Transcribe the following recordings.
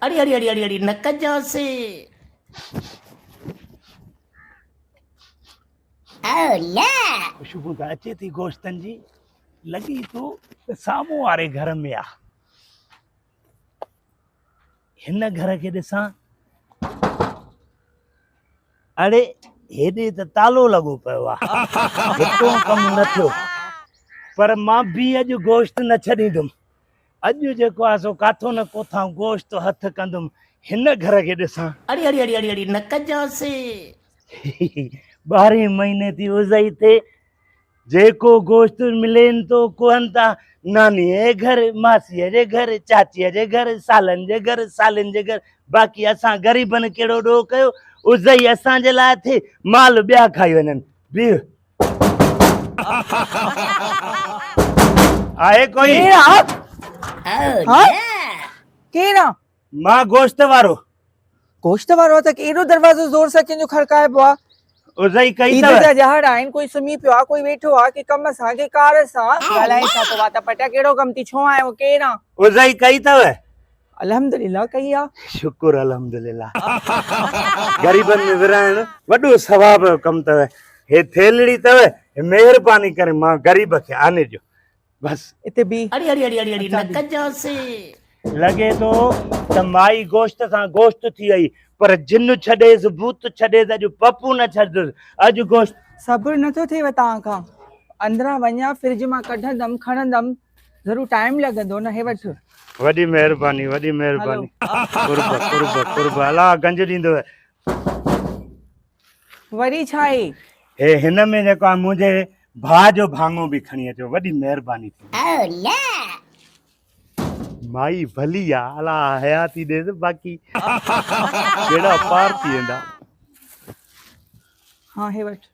اڙي اڙي اڙي اڙي اڙي نه ڪجانسي. او نه. خوشبو ته اچي ٿي گوشتن جي. لڳي ٿو ته سامهون واري گهر ۾ آ. هن گهر کي ڏسان. اڙي هيڏي ته تالو لڳو پيو آ. هتو ڪم نه ٿيو. پر مان به اڄ گوشت نه ڇڏيندم. اڄ جيڪو آ سو ڪاٿو نه ڪوٿان گوشت هٿ ڪندم هن گهر کي ڏسان. اڙي اڙي اڙي اڙي اڙي نه ڪجانسين. ٻارهين مهيني ٿي وزئي ٿئي جيڪو گوشت ملين ٿو ڪوهن تان نانيء جي گهر ماسيء جي گهر چاچيء جي گهر سالن جي گهر سالين جي گهر باقي اسان غريبن ڪهڙو ڏوهه ڪيو وزئي اسان جي لاء ٿئي مال ٻيا کائي وڃن بيهه آهي ڪوئي ڪير آ مان گوشت وارو گوشت وارو آ ته ايڏو دروازو زور سان ڪنهن جو کڙڪائبو آ ازئي ڪئي عيد جا ڄهڙ آهن ڪوئي سمهي پيو آ ڪوئي ويٺو آ ڪي ڪم سان ڪي ڪار سان ڳالهائي ڇا ٿو وات پٽيا ڪهڙو ڪم ٿي ڇو آيو ڪير آ ازئي ڪئي ٿو الحمدلله ڪئي آ. شڪر الحمدلله غريبن ۾ ورهائڻ وڏو ثواب جو ڪم اٿو هي ٿيلڙي اٿو مهرباني ڪري مان غريب کي آني ڏيو بس اتي بي اڙي اڙي اڙي اڙي نه ڪجانسي لڳي ٿو ته مائي گوشت سان گوشت ٿي وئي پر جن ڇڏيس ڀوت ڇڏيس اڄ پپو نه ڇڏندس اڄ گوشت صبر نٿو ٿيو توهان کان اندران وڃان فرج مان ڪڍندم کڻندم ضرور ٽائيم لڳندو نه هي وٺ. وڏي مهرباني وڏي مهرباني قرب قرب قرب الا گنج ڏيندو وري ڇا هي هي هن ۾ جيڪو آ منهنجي ڀاء جو ڀاڱو به کڻي اچو وڏي مهرباني ٿيندي مائي ڀلي آ الا حياتي ڏيس باقي ڪهڙا پار ٿي ويندا ها هي وٺ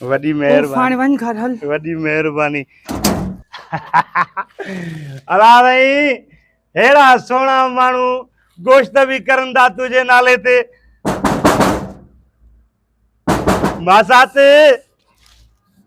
وڏي مهرباني وڃ گهر هل وڏي مهرباني الا رهي هيڙا سونا ماڻو گوشت به ڪرن ٿا تنهنجي نالي تي ماسات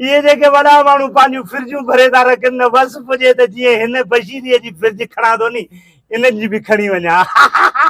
اهي جيڪي وڏا ماڻهو پنهنجون فرجون ڀري ٿا رکن نه وس پڄي ته جيئن هن بشيريء جي فرج کڻان ٿو ني انهن جي به کڻي وڃان.